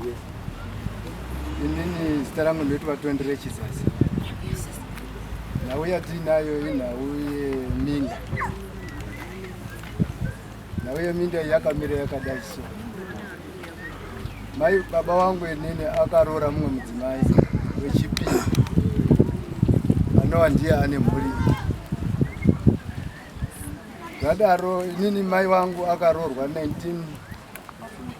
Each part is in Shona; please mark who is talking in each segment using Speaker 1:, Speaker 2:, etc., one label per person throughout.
Speaker 1: Yes. Inini zita rangu ndoiti vatondere chisasi. Nhau yatiinayo inhau yeminda. Nhau yeminda yakamira yakadai so. Mai baba wangu inini akaroora mumwe mudzimai wechipiri anova ndiye ane mhuri zvadaro inini mai wangu akaroorwa 19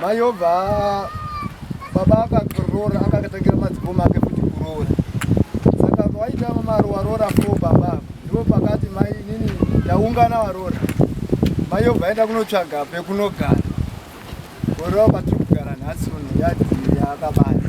Speaker 1: mayobva baba akakorora akakatangira madzikoma ake kuti kuroora saka vaita mari waroora fo baba ndipo pakati mai nini ndaungana waroora mayobva aenda kunotsvaga pekunogara orova patiri kugara nhasi uno yadii yaakabaya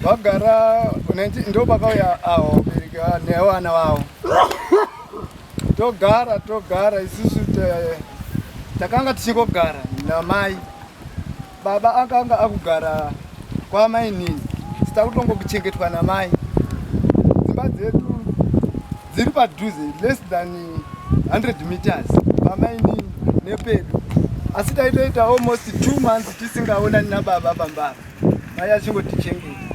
Speaker 1: vagara ndo vakauya awo nevana vavo togara togara isusu takanga tichingogara namai baba akanga akugara kwamainini sita kutongokuchengetwa namai dzimba dzedu dziri padhuze less than 100 meters pamainini nepedu asi taitoita almost two months tisingaonani nababa pambava mai achingotichengeta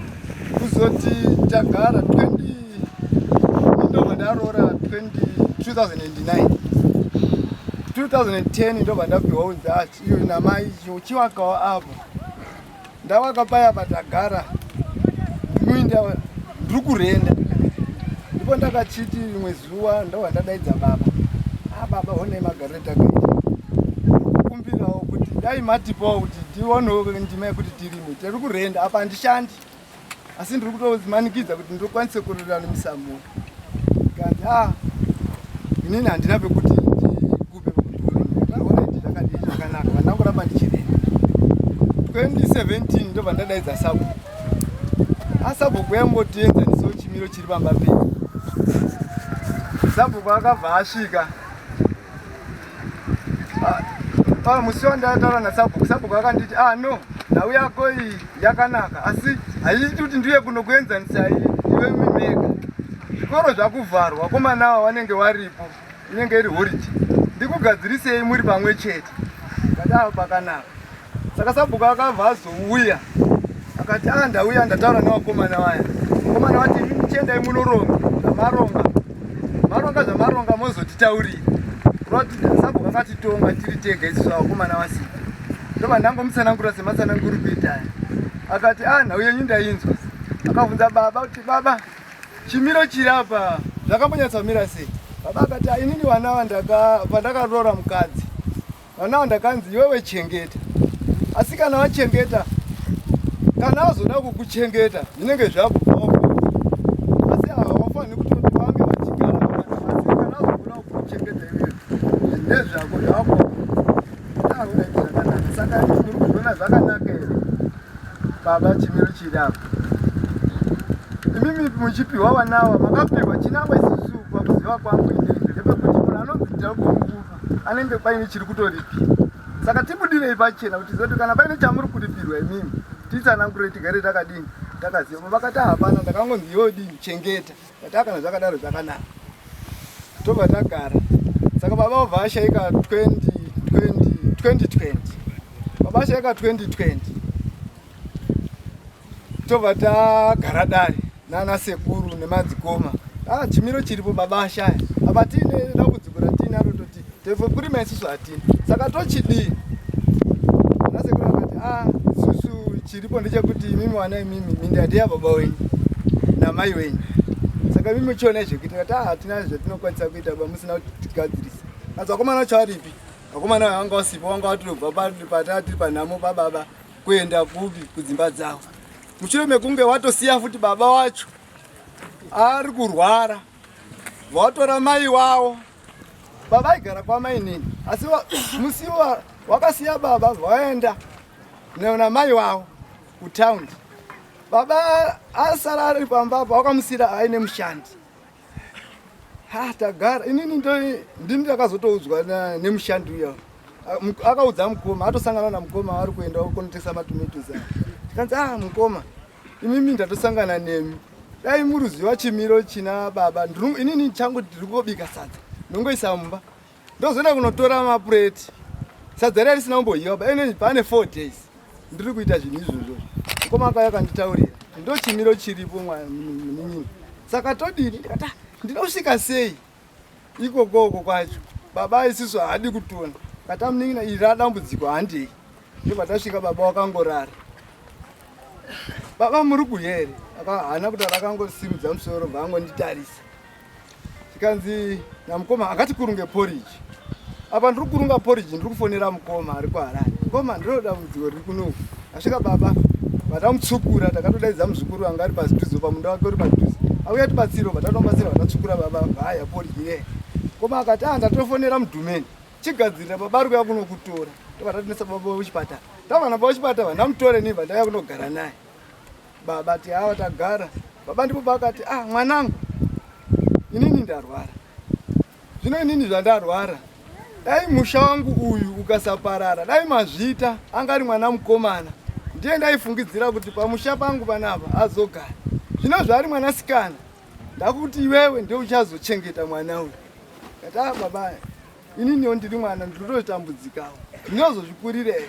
Speaker 1: kuzoti tagara 20 ndobva ndaroora 2009 2010 ndobva ndapiwa unzat iyo namai chiwakawo apo ndawaka paya patagara ndinoinda ndiri kurenda ndipo ndakachiti rimwe zuva ndobva ndadaidza baba a ah, baba honai magaro takakumbirawo kuti dai matipawo kuti tionewo ndima yekuti tirime tiri kurenda apa handishandi asi ndiri kutomanikidza kuti ndokwanise kurira nemisamuo kanzi a ah, inini handina pekuti ndikupe pekuti takadii zvakanaka vandina kuramba ndichirenda 2017 ndobva ndadaidza sabu asabhuku yambotienzanisawo chimiro chiri pamba pei sabhuku akabva asvika Ah, musi wandataura nasabhuku sabhuku akanditi ah no nhau yako iyi yakanaka asi haiti kuti ndiye kunokuenzanisa iyi iwe mimega zvikoro zvakuvharwa komana ava vanenge varipo inenge iri horiji ndikugadzirisei muri pamwe chete kadawo pakanaka Saka sabhuku akabva azouya akati a ah, ndauya ndataura nevakomana vaya vakomana vati imi muchiendai munoronga zvamaronga maronga zvamaronga mozotitaurira roti sabhuku akatitonga tiri tega isu zvavakomana vasika ndobva ndangomutsanangura sematsananguri kuitaya akati a ah, nhau yenyu ndainzwa akabvunza baba kuti baba chimiro chiri apa zvakambonyatsamira sei baba akati ah, inini vana vandaka pandakaroora mukadzi Vana vandakanzi iwewe chengeta. Asi kana wachengeta kana azoda kukuchengeta zvinenge zvakubvawo asi hawafani kutoti vange vachigara asi kana azoda kukuchengeta iwewe ndezvako zvako auraiti zvakanaka saka muri kuzviona zvakanaka here baba chimiro chiri apo imimi muchipiwa vanawa makapiwa chinangwa isisu pakuziva kwangu indeizvo ndepekuti munhu anonzi ndiri kumukuru anenge paine chiri kutoripirwa saka tibudirei pachena kuti zoti kana paine chamuri kuripirwa imimi titsanangurei tigare takadini takaziva vakati hapana ndakangonzi yodini chengeta vataa kana zvakadaro zvakanaka tobva tagara saka baba obva ashaika 2020 baba ashaika 2020 tobva tagara dare nana sekuru nemadzikoma ah, chimiro chiripo baba ashaya apa tiine dambudziko ratiinaro toti tevo kurima isusu hatini saka tochidii ana sekuru akati a ah, isusu chiripo ndechekuti imimi wana imimi mindadi yababa wenyu namai wenyu saka imimi chionai zvekuita kati ah, hatina zvatinokwanisa kuita ba musina kutigadzirisa asi vakomana vacho varipi vakomana vanga vasipo vanga vatobva patati panhamo pababa Kuenda kupi kudzimba dzavo mushure mekunge watosiya futi baba wacho ari kurwara vatora mai wavo baba aigara kwamainini asi musi wakasiya baba vaenda neona mai wavo kutaundi baba asara ari pamba apa wakamusira aine mushandi ha tagara inini ndini ndakazotoudzwa nemushandi uya akaudza mukoma atosangana namukoma aari kuenda konotesa matomatos a tikanzi ah mukoma imimi ndatosangana nemi dai muruziva chimiro china baba inini changu ndiri kobika sadza ndongoisa mumba ndozoenda kunotora mapureti sadza riya risina kumbohiwa baene pane four days ndiri kuita zvinhu izvozvo mukoma akauya akanditaurira ndo chimiro chiripo muninini saka todini ndikata ndida kusvika sei ikokoko kwacho baba isisu haadi kutona kata munin'ina iri radambudziko handei ndopatasvika baba wakangorara baba muri kuhere haana kutaura akangosimudza musoro bvaangonditarisa tikanzi namukoma akati kurunge poriji apa ndiri kurunga poriji ndiri kufonera mukoma ari kuharani mukoma ndinoda mudziwo riri kuno asvika baba vatamutsukura takatodaidza muzukuru vanga ari paziduzo pamunda wake uri paduzo auya tibatsiro vatatobatsira vatatsukura baba vaya poriji ye koma akati a ndatofonera mudhumeni chigadzirira baba ari kuya kunokutora tovatatinesa baba vekuchipatara tavana baba vechipatara vandamutore niva ndauya kunogara naye Baba ti hawa tagara. Baba ndipo pakati ah mwanangu. Inini ndarwara. Zvino inini zvandarwara. Dai musha wangu uyu ukasaparara, dai mazvita angari mwana mukomana. Ndiye ndaifungidzira kuti pamusha pangu panapa azogara. Zvino zvaari mwana sikana. Ndakuti iwewe ndio uchazochengeta mwana uyu. Kata baba. Inini ndiri mwana ndinototambudzikawo. Ndinozozvikurira here?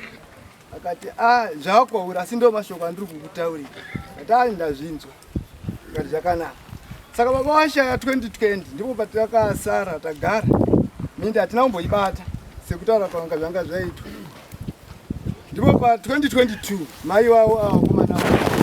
Speaker 1: akati ah, zvakwauri asi ndo mashoko andiri kukutaurira kati ai ah, ndazvinzwa kati zvakanaka saka baba washaya 2020 ndipo patakasara tagara mindi hatina kumboibata sekutaura kwanga zvanga zvaitwa ndipo pa 2022 mai wavo avakomana ah,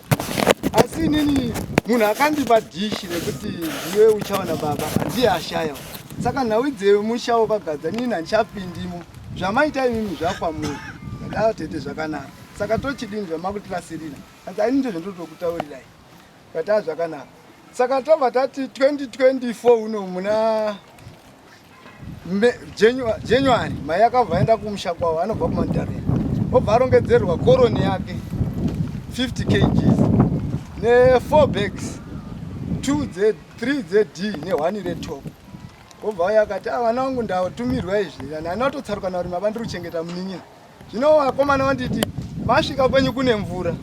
Speaker 1: asi inini munhu akandipa dishi rekuti ndiwe uchaona baba handiye ashaya saka nhau dzewe musha wakagadza nini handichapindimo zvamaita inini zvakwamuri ndadaro tete zvakanaka saka tochidini zvamakutirasirira asi ainini ndozvandotokutaurirai kataa zvakanaka saka tobva tati 2024 uno muna January mai akabva aenda kumusha kwavo anobva kumandarira obva arongedzerwa koroni yake 50 kgs ne4 bags 2 dze 3 dzed nehwani retop obva uya akati ah, vana vangu ndatumirwa izvi and anatotsaruka nauri mavandiri kuchengeta munin'ina Zvino vakomana vanditi masvika kwenyu kune mvura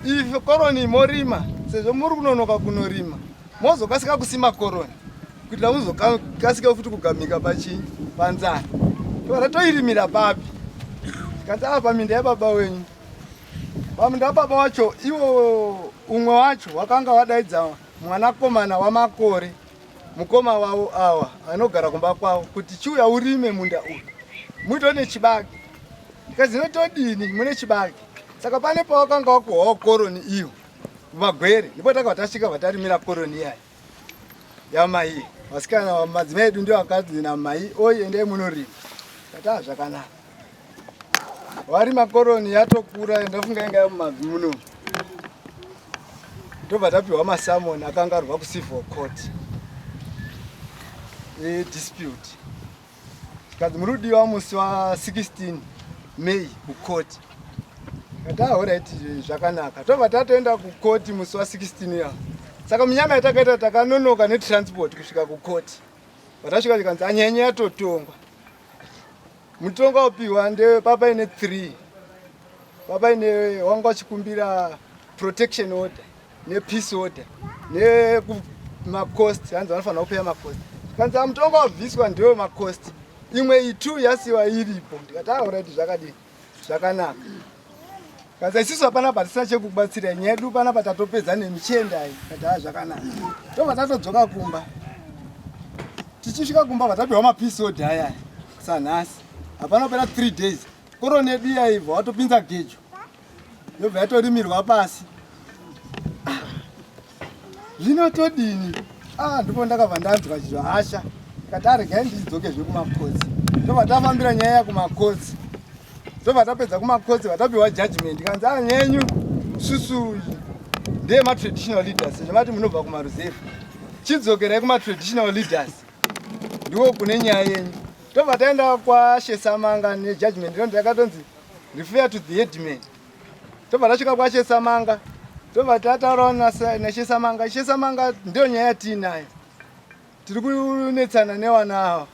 Speaker 1: ife koroni morima sezvo muri kunonoka kunorima mozokasika kusima koroni kuitira muzokasika futi kugamika pachii panzara tora toirimira papi tikati ava paminda yababa wenyu paminda yababa wacho iwo umwe wacho wakanga wadaidza mwanakomana wamakore mukoma wavo awa anogara kumba kwavo kuti chiuya urime munda uyu muito nechibage ndikazi notodini mune chibage saka pane pawakanga wakuhwawo koroni iyo vagwere ndipo takabva tasvika vatarimira koroni iyayi yamai vasikana madzimai edu ndio akadzi namai oyi endai munorima tataa zvakanaka vari makoroni yatokura ndafunga inga yamumabvi muno ndobva tapiwa masamon akanga arwa kucivil court edispute kanzi muri kudiwa musi wa 16 may kukoti katahoraiti zvakanaka tobva tatoenda kukoti musi wa 16 ya saka munyama yatakaita takanonoka netransport kusvika kukoti vatasvika chikanzi anyanya yatotongwa Mutongo wapihwa ndewe baba ine 3 baba ine wanga wachikumbira protection order nepeace order nemacost hanzi vanofanira kupeya macost kanzi amutongo wabviswa ndewe macost imwe itu yasiwa iripo ndikati aoraiti ah, zvakadii zvakanaka Kaza isisu hapana patisina chekubatsira nyedu pana patatopedza nemichiendai kataa zvakanaka tobva tatodzoka kumba tichisvika kumba vatapiwa mapisodi aya sanhasi hapana pera three days koroni yedu iyaibva watopinza gejo yobva yatorimirwa pasi zvino todini ah, ndipo ndakabva ndanzwa chivasha kati aregai ndidzoke zvekumakotsi ndobva tafambira nyaya yakumakotsi ndobva tapedza kumakotsi vatapiwa judgment kanzi a ah, nyenyu susu ndeye matraditional leaders zvemati munobva kumaruzefu chidzokerai kumatraditional leaders ndiwo kune nyaya yenyu tobva taenda kwashesamanga nejudgment ndo ndakatonzi refer to the headman tobva tasvika kwachesamanga tobva tataurawo nachesamanga chesamanga ndiyo nyaya yatiinayo tiri kunetsana newana ava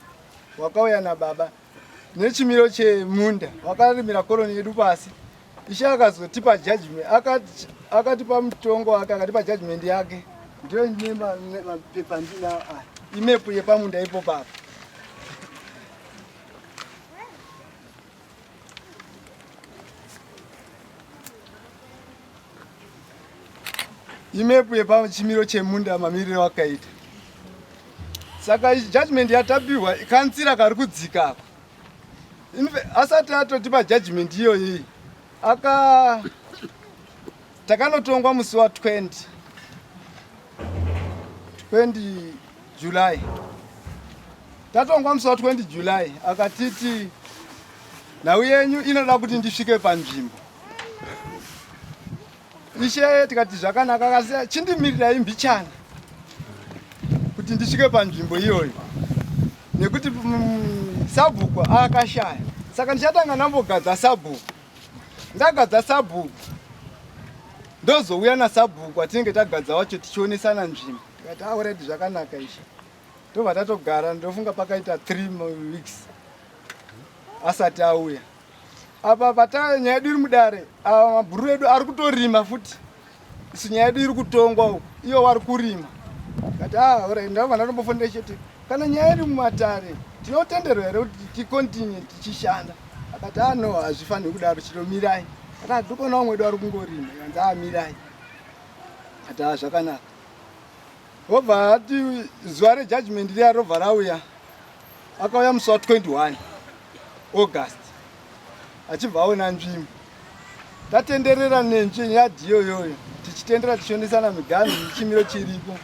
Speaker 1: wakauya nababa nechimiro chemunda wakarimira koroni yedu pasi ishe akazotipa judgment akatipa mutongo wake akatipa judgment yake ndiyo ine mapepa ndinawo aya imepu yepamunda ipo papa imepu yepachimiro chemunda mamirire wakaita saka judgment yatapihwa kanzira kari kudzika ako asati atotipa judgment iyoyi aka takanotongwa musi wa 20 20 July tatongwa musi wa 20 July akatiti nhau yenyu inoda kuti ndisvike panzvimbo ishe tikati zvakanaka akasiya chindimirirai mbichana kuti ndisvike panzvimbo iyoyo nekuti mm, sabhuku akashaya saka ndichatanga ndambogadza sabhuku ndagadza sabhuku ndozouya nasabhuku atinenge tagadza wacho tichionesana nzvimbo Ndikati already zvakanaka izvi. Tobva tatogara ndofunga pakaita 3 weeks asati auya. Apa pata nyaya yedu iri mudare, ava mabhuru edu ari kutorima futi. Isu nyaya yedu iri kutongwa uko, iyo wari kurima. Ndikati ah already ndabva ndatombofonera chete. Kana nyaya yedu mumatare tinotenderwa here kuti ticontinue tichishanda? Akati ah no hazvifaniri kudaro chiro mirai. Akati ndikonawo mwedu ari kungorima, ikanzi ah mirai. Akati ah zvakanaka. Obva ati zuva rejudgment riya robva rauya. Akauya musi wa 21 August achibva aona nzvimbo. Tatenderera nenzvi yadhi iyoyoyo tichitendera tichionesana miganhu chimiro chiripo.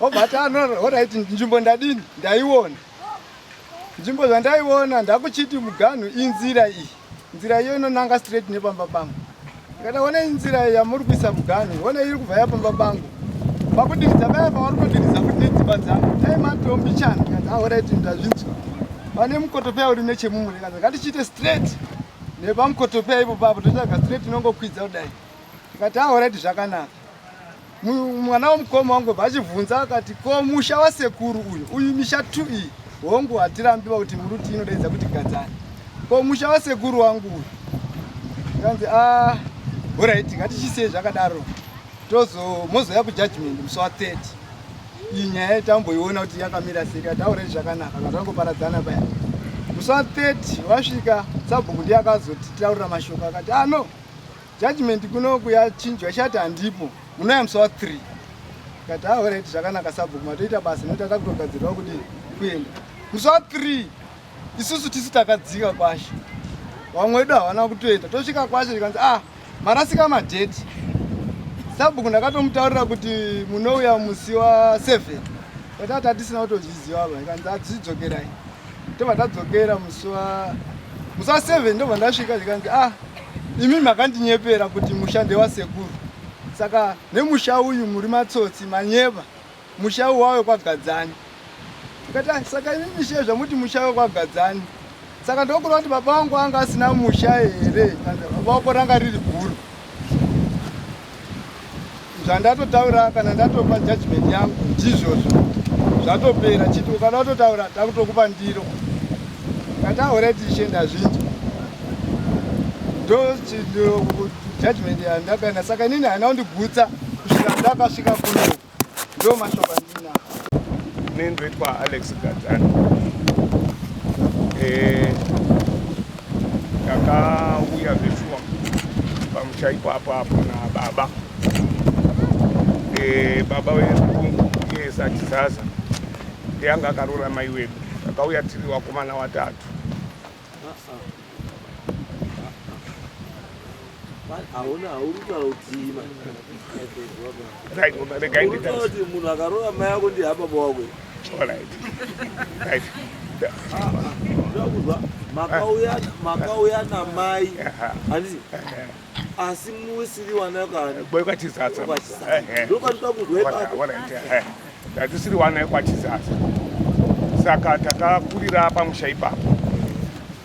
Speaker 1: Obva ati anoraiti nzvimbo ndadini ndaiona. nzvimbo zvandaiona ndakuchiti muganhu inzira iyi nzira iyo inonanga straight nepamba pangu kana one inzira yamuri kuisa muganhu one iri kubva yapamba pangu pakudiridza paya pavari kudiridza kuti nedzimba dzangu dai matombi chana kaaoraiti ndazvinzwa pane mukotopeya uri nechemumwe rekaza ngatichiite straight nepamukotopeya ipo papo totsvaga straight inongokwidza kudai tikati aoraiti zvakanaka mwana womukoma wangobva achibvunza akati ko musha wasekuru uyu uyu misha t iyi hongu hatirambiwa kuti muruti inodaidza kuti gadzani ko musha wasekuru wangu uyu kanzi a horaiti ngatichisei zvakadaro tozo mozouya kujudgment musi wa 30 iyi nyaya yatamboiona kuti yakamira sei kataurei zvakanaka kazvangoparadzana paya musi wa 30 wasvika sabhuku ndiye akazotitaurira mashoko akati ano ah, Judgment kunoku yachinjwa ishati handipo munoyamswa 3 kati haorit ah, zvakanaka sabhuku matoita basa nokuti atakutogadzirwa kuti kuenda muswa 3 isusu tisu takadzika kwashe vamwe wedu havana kutoenda tosvika kwashe zvikanzi ah marasika madheti sabhuku ndakatomutaurira kuti munouya musi wa 7 kati atatisi na utozviziva ava ikanzi adzidzokerai ah, Tobva tadzokera musi wa musi wa 7 ndobva ndasvika zvikanzi ah imi makandinyepera kuti musha ndewasekuru saka nemusha uyu muri matsotsi manyeba musha uyu wave kwagadzani tikati ah, saka imi mishe zvamuti musha wave kwagadzani saka ndokuda kuti baba vangu anga asina musha here baba vako ranga riri guru zvandatotaura kana ndatopa judgment yangu ndizvozvo zvatopera chiti ukada kutotaura takutokupa ndiro kataure tichishenda zvinji ndojudgment yandakaenda saka inini haina kundigutsa kusvika ndakasvika kuno Ndo mashoko andinawo. Nendwe
Speaker 2: kwa Alex Gadzani. Eh takauya zveshuwa
Speaker 3: pamusha ipapo apo nababa eh baba wedu iye Satizaza ndiye anga akaroora mai wedu. Takauya tiri vakomana vatatu. hauna haurikutaura kutii kuti munhu akarova mai
Speaker 2: ako ndi hababa wako makauya namai handiti asi musiri wanakani boy kwachizatsa ndokatoda kuzwa ipapo
Speaker 3: ndatisiri wana kwachizatsa saka takakurira pamusha ipapo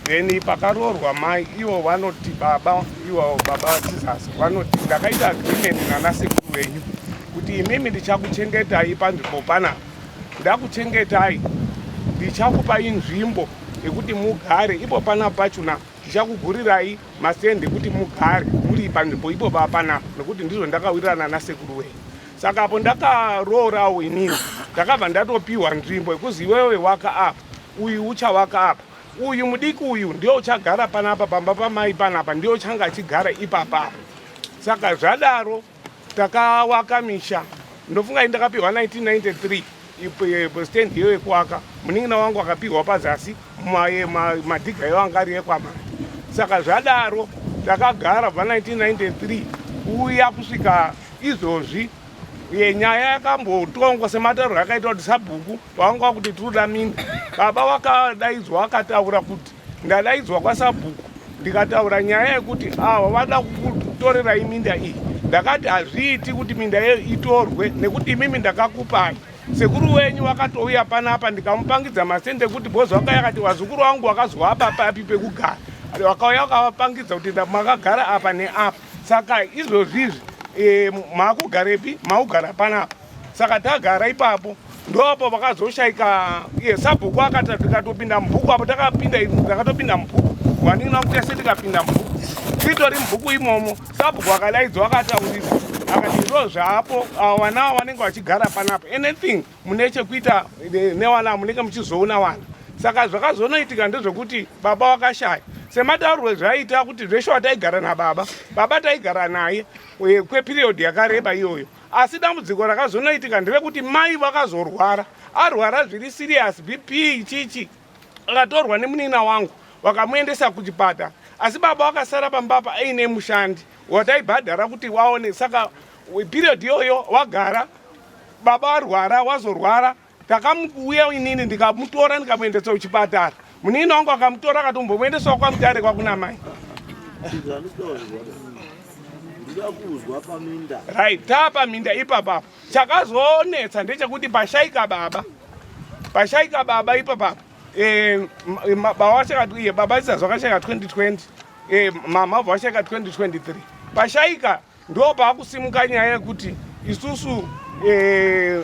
Speaker 3: then pakaroorwa mai ivo vanoti baba ivo baba vachizatsa vanoti ndakaita agreement nanasekuru venyu kuti imimi ndichakuchengetai panzvimbo pana ndakuchengetai ndichakupai nzvimbo yekuti mugare ipo pana pachona Ndichakugurirai masende kuti mugare muri panzvimbo ipo baba panapa nekuti ndizvo ndakawirirana nasekuru wenyu. Saka apo ndakaroorawo inini ndakabva ndatopiwa nzvimbo yekuzi iwewe waka apa uyu uchawaka apa uyu mudiki uyu ndiyo uchagara panapa pamba pamai panapa ndiyo uchanga achigara ipapapa. Saka zvadaro takawaka misha ndofunga iyi ndakapihwa 1993 ipo stand hiyo yekuwaka munin'ina wangu akapihwa pazasi madhiga iyo anga ari ekwamana saka zvadaro takagara bva 1993 kuuya kusvika izvozvi yenyaya yakambotongwa sematauriro akaita kuti sabhuku pavanga kuti tinoda minda baba wakadaidzwa akataura kuti Ndadaidzwa kwasabhuku ndikataura nyaya yekuti ava vada kutorera iminda iyi ndakati hazviiti kuti minda yeyo itorwe nekuti imimi ndakakupai sekuru wenyu wakatouya panapa ndikamupangidza masende ekuti bhozi wakauya akati vazukuru vangu wakazoapa papi pekugara wakauya ukavapangidza kuti makagara apa neapa saka izvozvizvi e, makugarepi makugara panapa saka tagara ipapo ndoapo vakazoshaika iye sabhuku akati tikatopinda mubhuku apo takapinda takatopinda mubhuku waningi wakuti ese tikapinda mubhuku titori mubhuku imomo sabhuku akalaidzwa akataurira akati izvo zvaapo vana avo vanenge vachigara panapa anything mune chekuita eh, newana munenge muchizoona wana saka zvakazonoitika ndezvekuti baba vakashaya semataurwe zvaiita kuti zveshuwa taigara nababa baba taigara naye eh, kwepiriyodhi yakareba iyoyo Asi dambudziko rakazonoitika nderekuti mai vakazorwara, arwara zviri serious, BP ichichi akatorwa nemunina wangu vakamuendesa kuchipata, asi baba vakasara pamba apa aine mushandi wataibhadhara kuti waone. Saka period iyoyo wagara, baba varwara, wazorwara, takamuuya inini ndikamutora ndikamuendesa kuchipatara munini wangu akamutora akatombomuendesawo kwamutare kwakuna mai right taapaminda ipapapa chakazonetsa ndechekuti pashaika baba pashaika baba ipapapa eh, baba baba isazvakashaika 2020 eh, mama vashaka 2023 pashaika Ndopaakusimuka nyaya yekuti isusu eh,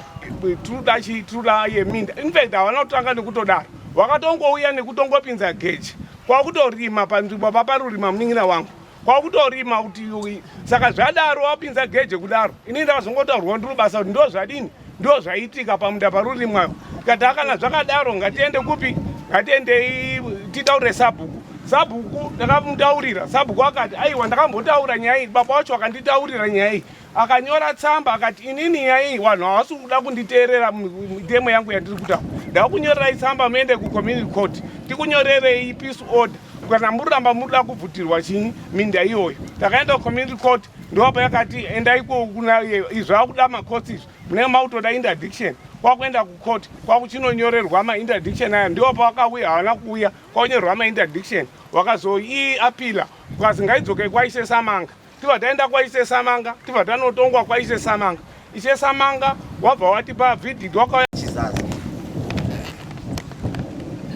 Speaker 3: tinoda chii tinoda yeminda infact havana kutanga nekutodaro vakatongouya nekutongopinza geji kwakutorima panzvimbo paparurima munin'ina wangu kwakutorima kuti saka zvadaro wapinza geje kudaro inini ndakazongotaurwa ndiri basa kuti ndozvadini ndo zvaiitika pamunda parurimwayo tikati akana zvakadaro ngatiende kupi ngatiendei titaurire sabhuku sabhuku ndakamutaurira sabhuku akati aiwa ndakambotaura nyaya iyi baba wacho akanditaurira nyaya iyi akanyora tsamba akati inini nyaya iyi vanhu havasi kuda kunditeerera mitemo yangu yandiri kutaura ndakunyorerai tsamba muende kucommunity court tikunyorerei peace order kana muri ramba muri da kubvutirwa chinyi minda iyoyo takaenda kucommunity court ndopa yakati enda iko kuna iye izvo akuda makotsi izvo munenge makutoda interdiction kwakuenda kucourt kwakuchinonyorerwa mainterdiction aya ndiwo pawakauya havana kuuya kwakunyorerwa mainterdiction wakazoii apila ukazi ngaidzokei kwaise samanga tibva taenda kwaise samanga tibva tanotongwa kwaise samanga Ishe Samanga wabva watipa vidhidhi wakauya chizazi.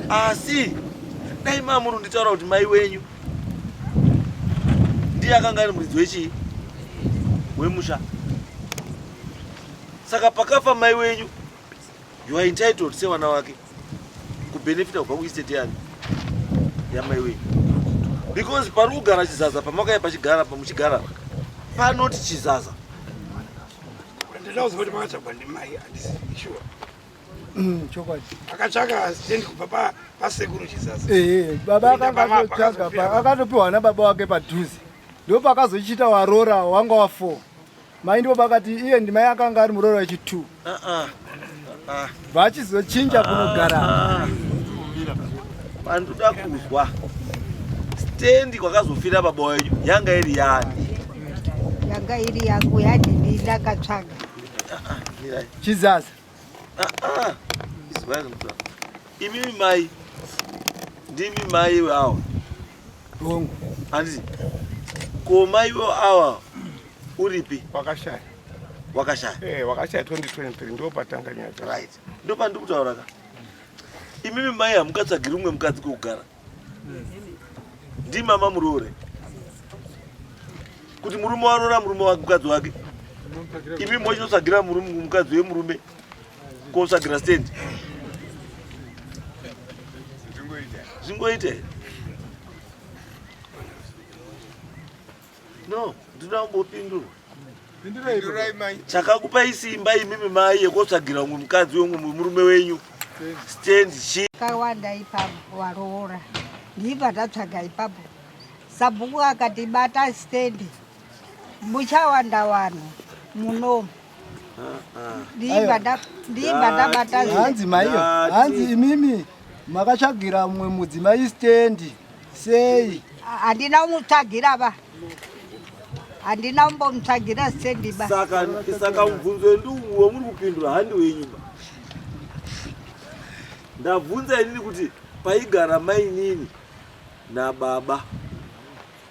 Speaker 2: Asi dai mamuru nditaura kuti mai wenyu ndiye akanga ari muridzi wechii wemusha. Saka pakafa mai wenyu You are entitled sevana wake kubenefita kubva kuestate yani yamai wei because pari kugara chizaza pamakaya pachigara pamuchigara panoti chizaza
Speaker 4: Mm, chokwadi akatsvaka stendi kubva pasekuru chisasa
Speaker 1: ee baba akatotsvaga akatopiwa nababa
Speaker 4: wake
Speaker 1: padhuze ndipo pakazochita warora wanga wa four Mai ndipo pakati iye ndimai akanga ari muroora wechi2 vachizochinja kunogara
Speaker 2: pandoda kuzwa stendi kwakazofira baba wenyu yanga iri yani yanga
Speaker 5: iri yangu yadini ndakatsvaga
Speaker 1: chizaza
Speaker 2: Ah, ah. Imimi mai ndimi mai vawo dongo
Speaker 1: hanzi
Speaker 2: ko mai vo awa uripi wakashaya
Speaker 3: wakashaya eh wakashaya 2023 ndo patanga nyaya right ndo pandikutaura
Speaker 2: ka imimi mai hamukatsvagiri umwe mukadzi kokugara ndimama muroore kuti murume waroora murume wake mukadzi wake imi mochinosagira murume mukadzi wemurume kosagira stand zvingoita No, ndinoda kumbopindurwa. Pindurai mai. Chakakupai simba imimi mai yekotsvagira umwe mukadzi wemwe murume wenyu. Stand chi. Kawanda ipapo
Speaker 5: waroora. Ndiva tatsvaga ipapo. Sabhuku akati bata stand. Muchawanda wanhu munomu. hanzi maiyo
Speaker 1: hanzi imimi makatsvagira mumwe mudzimai stendi sei handina
Speaker 5: umutsvagira va handina umbomutsvagira stendi ba saka mubvunzo
Speaker 2: wendiuwo muri kupindura handi wenyu ba ndabvunza inini kuti paigara mainini nababa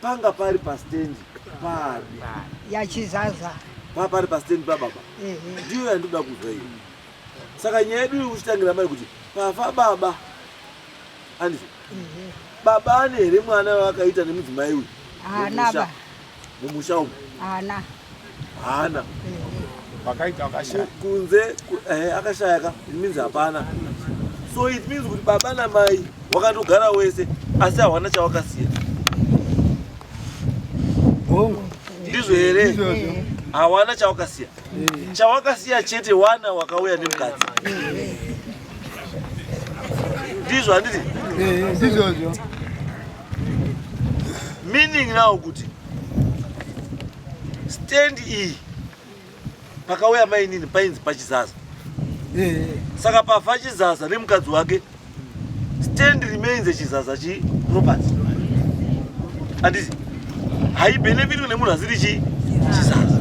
Speaker 2: Panga pari pa stand pari. Yachizaza.
Speaker 5: Pa pari pa
Speaker 2: stand pa baba. Ndiyo yandoda kuzwa iyo. Saka nyaya yedu ikuchitangira mai kuti pafa baba. Andizvo. Baba ane here mwana wakaita nemudzimai uyu? Haana ba.
Speaker 5: Mumusha
Speaker 2: umu. Haana. haana
Speaker 3: vakaita akashaya kunze
Speaker 2: eh, akashaya ka it means hapana so it means kuti baba na mai wakatogara wese asi hawana chawakasiya
Speaker 1: hongu ndizvo here
Speaker 2: hawana chawakasiya chawakasiya chete wana wakauya nemukadzi ndizvo handiti eh, ndizvozvo meaning now kuti stand iyi pakauya mainini painzi pachizaza eh. saka pafa chizaza nemukadzi wake stand remains echizaza chiproperty andisi haibenefitwe nemunhu asiri chi chizaza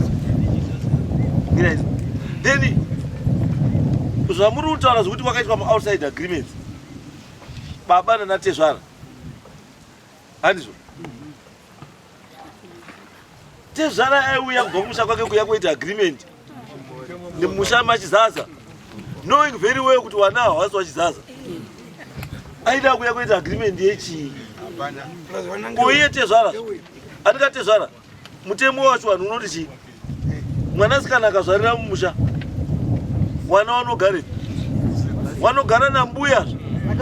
Speaker 2: ngiraizvo then zvamuri kutaura zvekuti kwakaitwa muoutside agreements baba nanatezvara handizvo tezvara aiuya kubva kumusha kwake kuya kuita agreement nemusha machizaza knowing very well kuti wana hawasi wachizaza aida kuya kuita agreement yechii uye tezvara atikatezvara Mutemo wacho vanhu unoti chii? Mwana sikana akazvarira mumusha, wana wanogara wanogara nambuya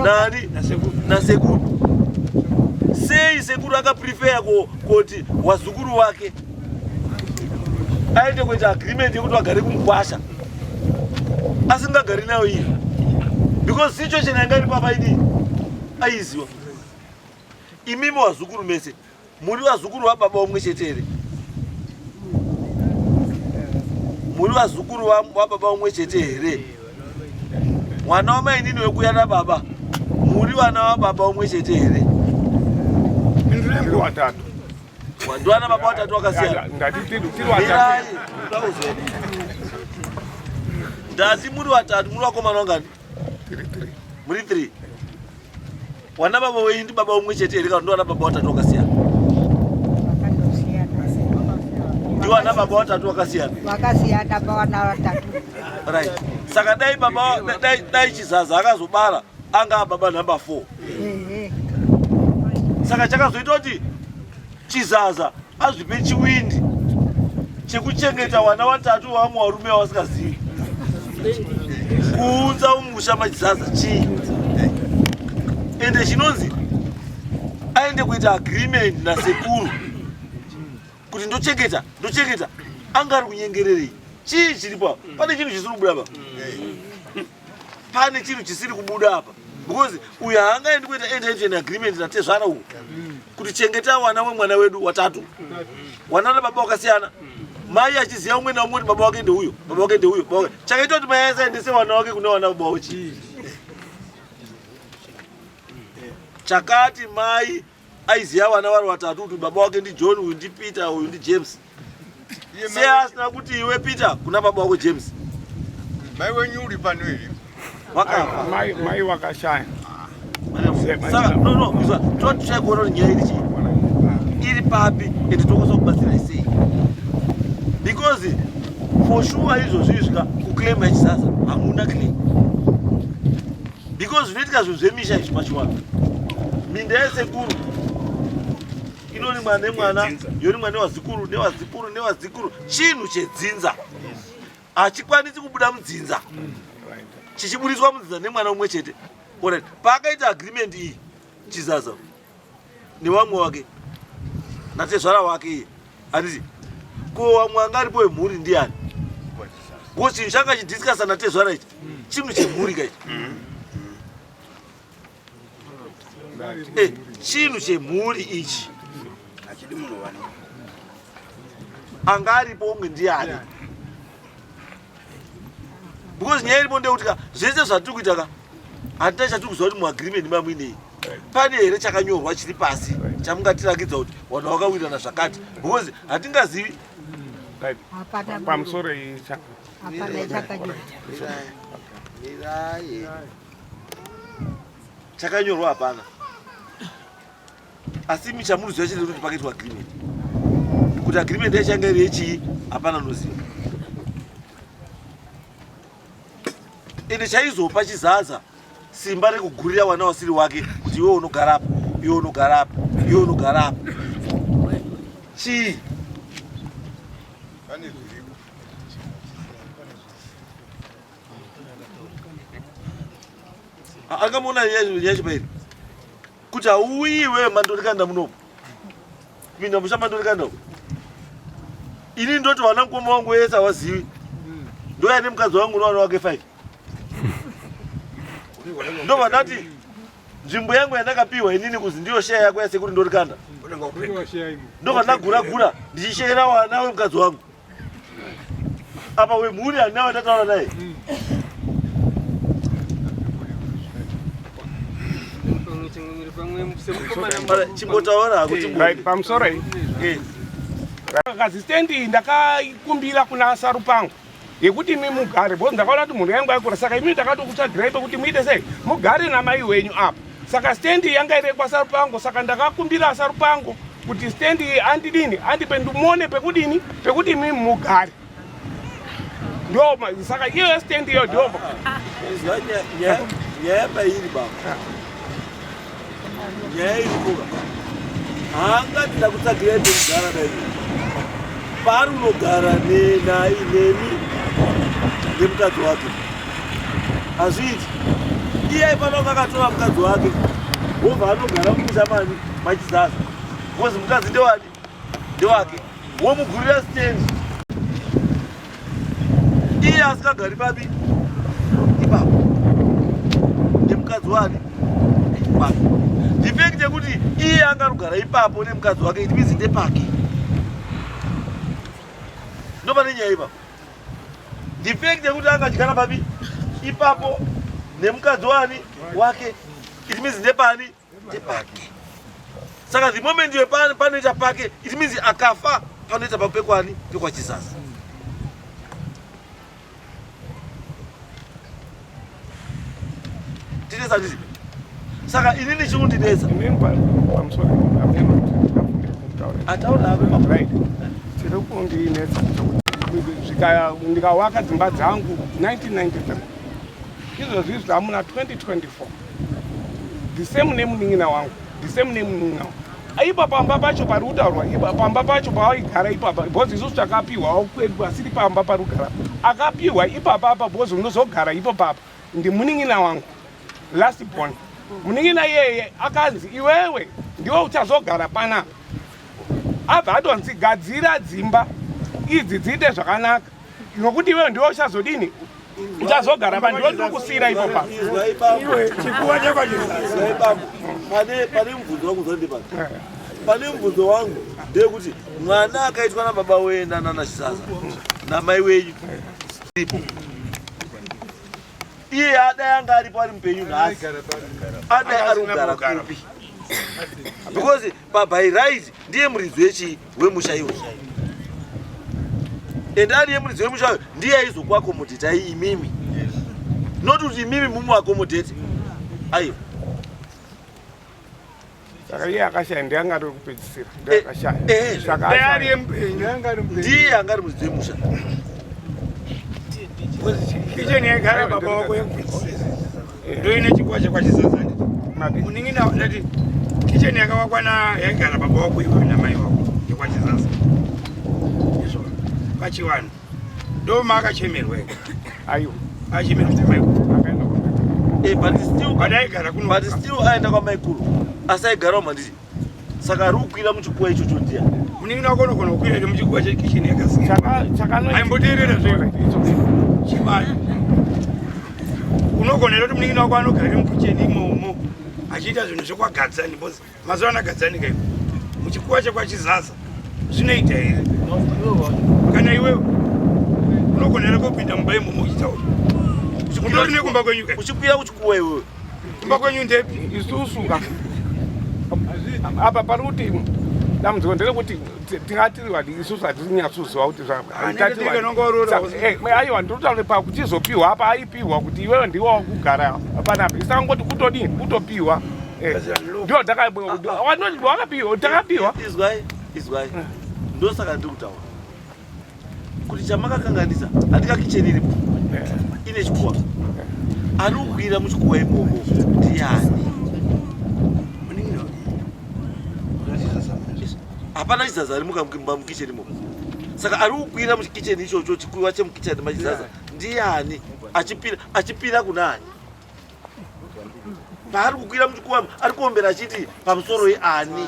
Speaker 2: nani nasekuru. Sei sekuru akaprefeya kuti wazukuru wake aende kuita agreement yekuti vagare kumukwasha asingagari nayo iye because situation yanga iri papa idii aiziwa imimi wazukuru mese Muri vazukuru vababa umwe chete here? Muri vazukuru vababa umwe chete here? Mwana wamainini wekuya nababa, muri vana vababa umwe chete here? Ndiri
Speaker 3: watatu. Ndiwana
Speaker 2: baba watatu wakasiyana. Ndati tiri watatu. Ndati muri watatu, muri vakomana vangani? muri three wana baba wenyu ndi baba umwe chete here kana ndiwana baba watatu wakasiyana ndiwana baba watatu wakasiyana wakasiyana pawana
Speaker 5: watatu right
Speaker 2: saka dai baba dai, dai chizaza akazobara anga baba number four saka chakazoita kuti chizaza azvipe chiwindi chekuchengeta vana vatatu vamwe varume vavasingazivi kuunza umusha machizaza chii ende chinonzi aende kuita agreement nasekuru kuti ndochengeta ndochengeta anga ari kunyengererei chii chiripo pane chinhu chisiri kubuda pa pane chinhu chisiri kubuda apa because uyu haangaendi kuita entertain agreement natezvara uku kuti chengeta wana wemwana wedu watatu wana nababa wakasiyana mai achiziva umwe naumwe kuti baba wake ndeuyo baba wake ndeuyo baba wake chakaita kuti mai asaendese wana wake kune wana baba wake chakati mai aiziva vana vari vatatu kuti baba wake ndijohn uyu ndipeter uyu ndijames sei asina kuti iwe peter kuna baba wako james mai
Speaker 1: wenyu uri pano here vakamai
Speaker 3: vakashaya
Speaker 2: totishaikuona kuti nyaya iri chii iri papi ende tokwanisa kubatsirai sei because for sure izvozvi izvika kuclaim yachisasa hamuna claim because zvinoitika zvinhu zvemisha izvi pachiwana minda yesekuru inorimwa nemwana yorimwa newazikuru newazikuru newazikuru chinhu chedzinza hachikwanisi kubuda mudzinza chichiburitswa mudzinza nemwana umwe chete paakaita agreement iyi chizaza newamwe wake natezvara wake iye handiti ko wamwe anga aripo wemhuri ndiani ko chinhu changa chidiscasa natezvara ichi chinhu chemhuri ka ichi eh, chinhu chemhuri ichi anga aripo umwe ndiani because nyaya iripo ndeyekuti ka zvese zvatiri kuita ka hatina chatiri kuziva kuti muagreement mamuinei pane here chakanyorwa chiri pasi chamungatirakidza kuti vanhu vakawirana zvakati because hatingazivi
Speaker 3: pamusoro icha
Speaker 2: chakanyorwa hapana asi imi chamunoziva chete kuti pakaitwa agreement kuti agreement yachanga iri yechii hapana unoziva ende chaizopa chizaza simba rekugurira wana wasiri wake kuti iwe unogara apa iwe unogara apa iwe unogara apa chii angamuona yacho pairi Kuti hauyi iwewe mandorikanda munomu. Pinda musha mandorikanda uko. Ini ndoti wana mkoma wangu wese hawazivi. Ndoya nemukadzi wangu unowana wake five. Ndo vanati nzvimbo yangu yandakapiwa inini kuzi ndiyo sheya yako yasekuri ndorikanda. Ndo vandagura gura ndichisheyera wana wemukadzi wangu. apa wemhuri handina vandataura naye chimbotaura hakuti pamusoro
Speaker 3: iyi kazisitendi iyi ndakaikumbira kuna sarupangu yekuti imi mugare bcause ndakaona kuti mhuri yangu aikura saka imi ndakatokutsvagirai pekuti muite sei mugare namai wenyu apa saka stand iyi yanga iri kwasarupango saka ndakakumbira sarupango kuti stand iyi andidini andipe ndimone pekudini pekuti imi mugare ndoma saka iyoyo stand iyo ndoma
Speaker 2: nyaya pairi baba nyaya iri kuba haangati ndakutsvagirai pekugara daii paari unogara nainemi nemukadzi wake hazviiti iye ipanonga akatora mukadzi wake wobva anogara kumusha mani machizaza bcause mukadzi ndewani ndewake womugurira stendi iye asikagari papi ipapo nemukadzi wani wake ndifekti yekuti iye angarugara ipapo nemukadzi wake it means ndepake ndopane nyaya ipapo Defect yekuti angadyara papi ipapo nemukadzi wani wake it means ndepani ndepake saka the moment iwe panoita pake it means akafa panoita pako pekwani pekwachizazi Tinetsa handiti? Saka ini ndichikundinetsa. Inini pamusoro apema ataona apema right.
Speaker 3: Tiri kundinetsa zvikaya ndikawaka dzimba dzangu 1993 izvozvi zvamuna 2024 the same nemunin'ina wangu the same nemunin'ina wangu aipa pamba pacho pari kutaurwa ipa pamba pacho paaigara ipapa because isusu takapiwa kwedu asiri pamba pari kugara akapiwa ipapa apa because unozogara ipo papa ndimunin'ina wangu last born munin'ina iyeye akanzi iwewe ndiwe uchazogara panapa abva atonzi gadzira dzimba idzi dziite zvakanaka nokuti iwewe ndiwe uchazodini uchazogara vanhu ndoti ukusiyira ipo pa pane
Speaker 4: mubvunzo wangu
Speaker 2: zandipaa pane mubvunzo wangu ndeyekuti mwana akaitwa nababa wee nanana chisaza namai wenyu ipo iye adai anga aripo ari mupenyu nhasi adai ari kugara kupi because Pabhairaiti ndiye muridzi wechii wemusha iwo and ariye muridzi wemusha uyo ndiye aizokuakomodetai imimi not kuti imimi mumuakomodeti aiwa
Speaker 3: saka iye akashaya ndiye anga ari wekupedzisira ndiye eh, akashaya eh, saka ariye mupenyu anga ari mupenyu ndiye
Speaker 2: anga ari muridzi wemusha
Speaker 4: kicheni yaigara baba wako yekupedzisira ndoine chikwazha kwachizazani muningi ndati kicheni yakavakwa na yaigara baba wako iwe namai wako yekwachizaza izvo pachivanhu ndoma akachemerwa ayo
Speaker 3: achemerwa
Speaker 4: semaikuru akaenda kwamai eh, but still
Speaker 2: but aigara kuno but still aenda kwamaikuru asi aigarawo mandii Saka ari kukwira muchikuwa ichocho ndiya. Munin'ina wako unogona
Speaker 4: kukwira iri muchikuwa chekicheni yakasiyana. Chaka chakanoita. Aimboteerera zvimwe. Chimai. Unogona kuti munin'ina wako anogara iri mukicheni imomo achiita zvinhu zvekwagadzani because mazuva ano agadzani kaiko. Muchikuwa chekwachizaza zvinoita here? Kana iwewe unogona here kupinda mumba imomo uchitaura. Uchikwira nekumba kwenyu. Uchikwira kuchikuwa iwewe.
Speaker 2: Kumba kwenyu
Speaker 4: ndepi? Isusu ka.
Speaker 3: Apa pari kuti dambudziko nderekuti tingati vadii isusu hatinyatsoziva kuti zvaiwa ndotaura pakutizopiwa apa aipiwa kuti iwewe ndiwe wakugara apana apa isangoti kutodii kutopiwa eh, ndo takapiwa takapiwa
Speaker 2: ndosaka ndiri kutaura kuti chamakakanganisa handika kicheni iripo ine chikuwa anohwira muchikuwa imomo ndiyani hapana chizaza ari mukamukimba mukicheni imomo saka ari kukwira mukicheni ichocho chikuwa chemukicheni machizaza ndiyani achipira achipira kunani paari kukwira muchikuwa ari kuombera achiti pamusoro yeani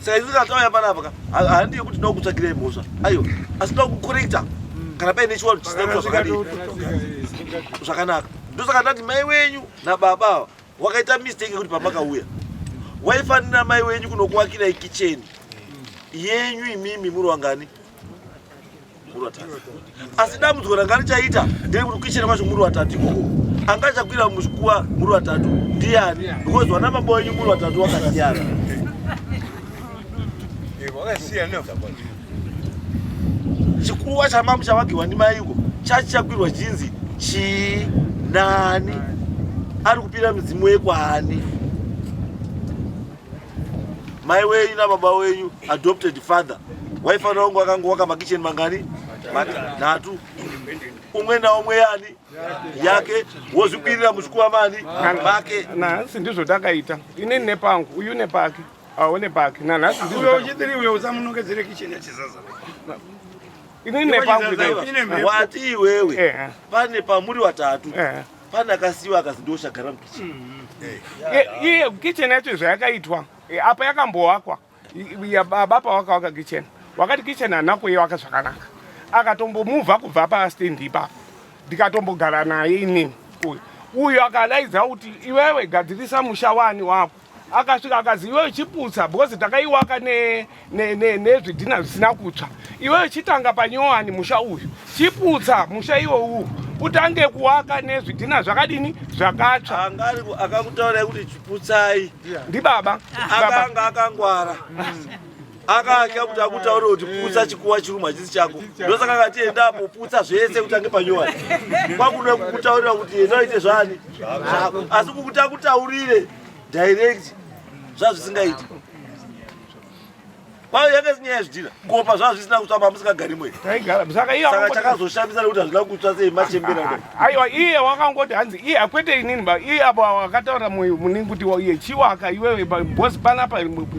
Speaker 2: Saizvi katauya panapa ka handi yekuti ndoda kutsvakirai mhosva aiwa asi ndoda kukorekta kana paine chiwaro chisina kuita zvakadii zvakanaka ndosaka ndati mai wenyu nababa ava wakaita mistake yekuti pamakauya waifanira mai wenyu kunokuwakirai kicheni yenyu imimi muri wangani muri vatatu asi dambudziko ranga richaita nderekuti kukicheni kwacho muri vatatu ikoko anga achakwira muzvikuwa muri vatatu ndiyani because vana baba wenyu muri vatatu wakasiyana chikuwa chamamu chavagirwa ndimaiko chachichakwirwa chinzi chii nani ari kupira midzimu yekwaani mai wenyu nababa wenyu adopted father waifanira kunge wakangowaka makicheni mangani matatu umwe naumwe yani yake wozvikwirira muchikuva mani make nanhasi ndizvo
Speaker 3: takaita ini nepangu uyu nepake aone pake nanhasi ndizvo uchitiri uyo
Speaker 4: usamunongedzere kicheni yachizaza
Speaker 3: ini nepangu wati
Speaker 2: iwewe pane pamuri watatu Pana akasiwa akazi ndoshagara mukitchen. Mm -hmm.
Speaker 3: Iye kitchen yacho zvayakaitwa e, apa yakamboakwa baba pawakawaka kitchen wakati kitchen hanako iye waka zvakanaka akatombomuvha kubva pastand ipapo ndikatombogara naye inini uyu uyu akadaidza kuti iwewe gadzirisa musha wani wako akasvika akazi iwewe chiputsa because takaiwaka nezvidhina zvisina kutsva iwewe chitanga panyowani musha uyu chiputsa musha iwo uwu utange kuwaka nezvidhina zvakadini zvakatsva akakutaura
Speaker 2: kuti chiputsai ndibaba
Speaker 3: akanga
Speaker 2: akangwara mm. akatya kuti akutaure kuti putsa chikuwa chiruma hachisi chako ndosaka akati enda apo putsa zvese kutange panyowani kwakuda kukutaurira kuti enda uite zvani zvako asi kukuti akutaurire direct zvazvisingaiti kwayo yanga isinyaya yazvidhina kopa zvazvisina kutswa mamusikagarimoisaka
Speaker 3: chakazoshamisa nekuti
Speaker 2: hazvina kutswa sei machembera Aiwa iye
Speaker 3: wakangoti hanzi iye akwete inini ba iye apo akataura mwe mune kuti iye chiwaka iwewe ba boss pana pa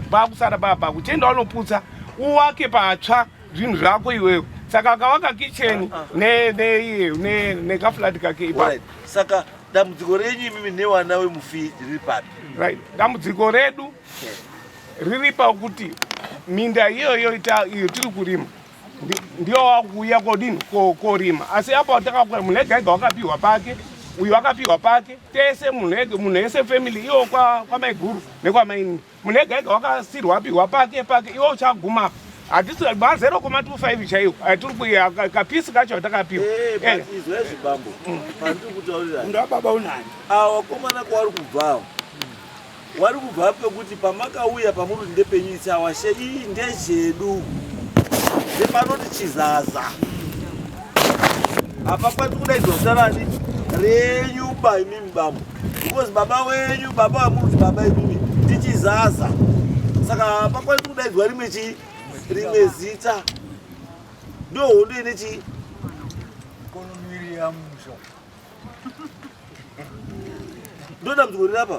Speaker 3: ba kusara ba ba kuchenda wanoputsa uwake patsva zvinhu zvako iwewe saka akawaka kitchen ne ne iye ne ne ka flat kake ipa Alright. saka
Speaker 2: dambudziko renyu imimi newana wemufi riri papi right dambudziko
Speaker 3: redu riri pakuti minda iyoyo ita iyo tiri kurima ndiwo wakuuya kodini korima asi apa watakakwira munhu ega ega wakapiwa pake uyu wakapiwa pake tese munhu ega munhu ese family iwo kwamaiguru nekwamaini munhu ega ega wakasirwa apiwa pake pake iwo uchaguma apa hatisi mazero koma 25 chaiwo atiri kuya kapisi kacho atakapiwa eh, eh. izvezvi
Speaker 2: bambo pandiri kutaurira munhu wababa unani
Speaker 4: awa komana kwaari
Speaker 2: kubvawo Wari kubva pekuti pamakauya pamuri kuti ndepenyu it's our share iyi ndezvedu. Sepanoti chizaza. Apa kwati kudaidzwa zita rani renyu ba imimi baba. Because baba wenyu baba wamuri kuti baba imimi tichizaza. Saka apa kwati kudaidzwa rimwe chi rimwe zita. Ndohondo ine chi
Speaker 1: Kono miri ya musha.
Speaker 2: ndodambudziko riri apa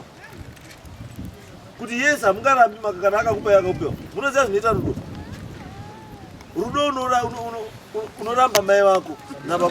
Speaker 2: kuti yes hamungarambi maka kana akakupai akakupewa munoziva zvinoita rudo rudo unoramba mai vako nababa